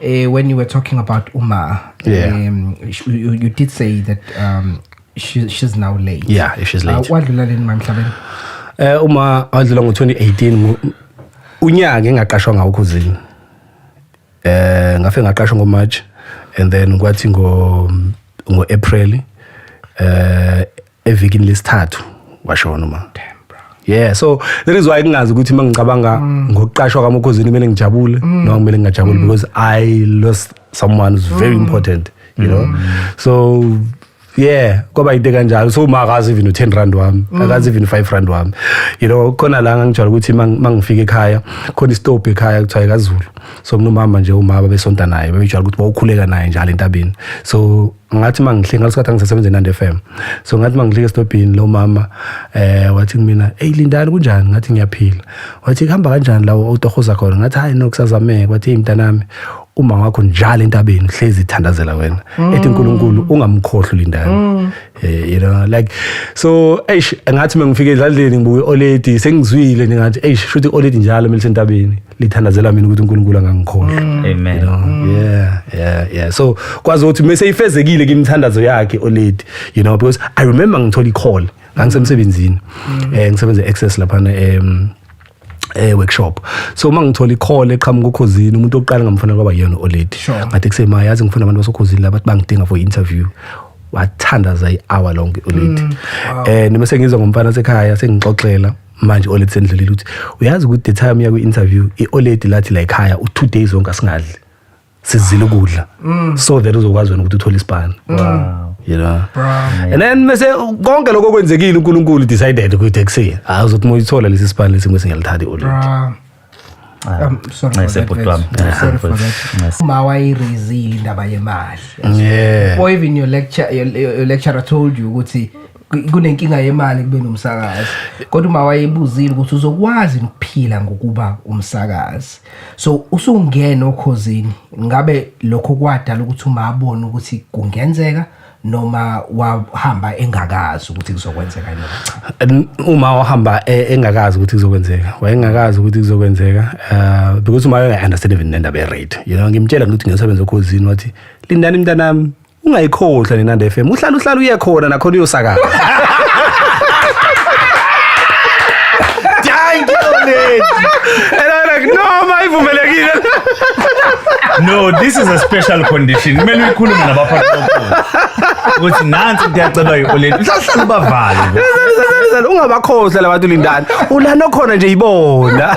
Uh, when you were talking about Uma, yeah. um, you, you did say that um, she, she's now late. Yeah, if she's late. Uh, what did you learn, Ma'am Shaben? Uh, Uma, I was along 2018. Unyaka engaqashwa ngawo khuzini. Eh ngafe ngaqashwa ngo March and then kwathi ngo ngo April eh evikini lesithathu washona uma yeah so that is why kungazi ukuthi uma ngicabanga mm. ngokuqashwa kamokhozini kumele ngijabule mm. noma kumele ngingajabuli mm. because i lost someone who's very mm. important you mm. know so yeah kwaba into kanjalo so uma akazi even u10 rand wami mm. akazi even 5 rand wami you know khona la ngangijwayele ukuthi mangifika ekhaya khona istop ekhaya kuthiwa ekazulu so mnomama nje umama besonta naye bebejwayele ukuthi bawukhuleka naye njalo entabeni so ngathi mangihlike ngalesikhathi angisasebenze eNandi FM so ngathi mangihlike estobhini lo mama eh wathi kumina hey lindani kunjani ngathi ngiyaphila wathi kuhamba kanjani lawo otohoza khona ngathi hayi no kusazameka wathi imntanami uma wakho njalo entabeni hlezi ithandazela wena mm. ethi uNkulunkulu ungamkhohlwa lindani mm. eh you know like so eish ngathi mengifike endlaleni ngibuye oledi sengizwile ngathi eish shuthi oledi njalo melisentabeni lithandazela mina ukuthi uNkulunkulu angangikhohlwa mm. amen you know? yeah yeah yeah so kwazi ukuthi mase ifezekile kimthandazo yakhe oledi you know because i remember ngithola icall ngangisemsebenzini mm. eh ngisebenza access lapha em eh workshop so uma ngithola icall eqhamuka ukhozini umuntu oqala ngamfana kwaba yena oledi ngathi kusema yazi ngifuna abantu basokhozini labathi bangidinga for interview wathandaza i-hour lonke ulithi um mm. eh, noma sengizwa ngomfana sekhaya sengixoxela manje oledi sendlulile ukuthi uyazi ukuthi the time yakwi interview ioledi lathi la ekhaya u two days zonke asingadli sizile ukudla mm. so that uzokwazi wena ukuthi uthole isibani wow you know and then mase konke lokho kwenzekile uNkulunkulu decided ukuthi ekuseni hayi uzothi moyithola lesi sibani lesi ngise ngiyalithatha ioledi uma wayirezile indaba yemali or even your lecture your, your lecturer told you ukuthi kunenkinga yemali kube nomsakazi kodwa uma wayebuzile ukuthi uzokwazi ukuphila ngokuba umsakazi so usungena okhozini ngabe lokho kwadala ukuthi uma abone ukuthi kungenzeka noma wahamba engakazi ukuthi kuzokwenzeka yini cha uma wahamba e, engakazi ukuthi kuzokwenzeka wayengakazi ukuthi kuzokwenzeka uh because uma wayenge understand even nendaba ye rate you know ngimtshela ukuthi ngiyosebenza okhozini wathi lindani mntanami ungayikhohlwa nenanda FM uhlala uhlala uye khona nakhona uyosakaza Thank you, lady. And I'm like, no, my ivumelekile. No, this is a special condition. Kumele uyikhulume abaphathi bokhozi ukuthi nansi into yacelwa yi-oleli uhlahlala ubavale nje. Sale, sale, sale, sale, ungabakhohlwa labantu lindani ulana okhona nje yibona